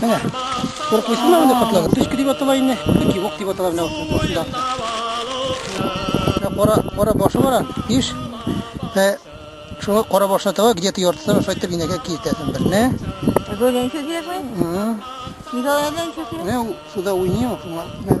Менә, күреп куйсын да инде котлар. Төшке дип атала инде, яки ук дип атала менә башында. Кара, кара башы бар ан, иш. Ә шуңа кара башына таба, где-то яртысын шайтып инәгә киртәсен берне. Гөлен чөдәсен. Ага. Николайдан чөдәсен. Менә суда уйный ул шуңа.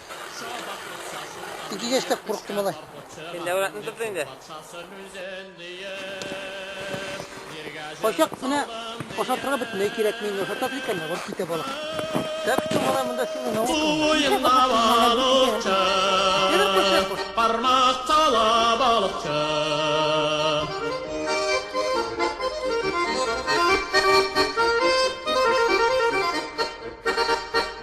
Ике кеште куркты малай. Инде уратны тотты инде. Качак менә ашатырга бөтенләй кирәкми, инде ашатасы икән, барып китә балык. Так что малай монда сине наука. Суенна балыкчы, бармак кала балыкчы.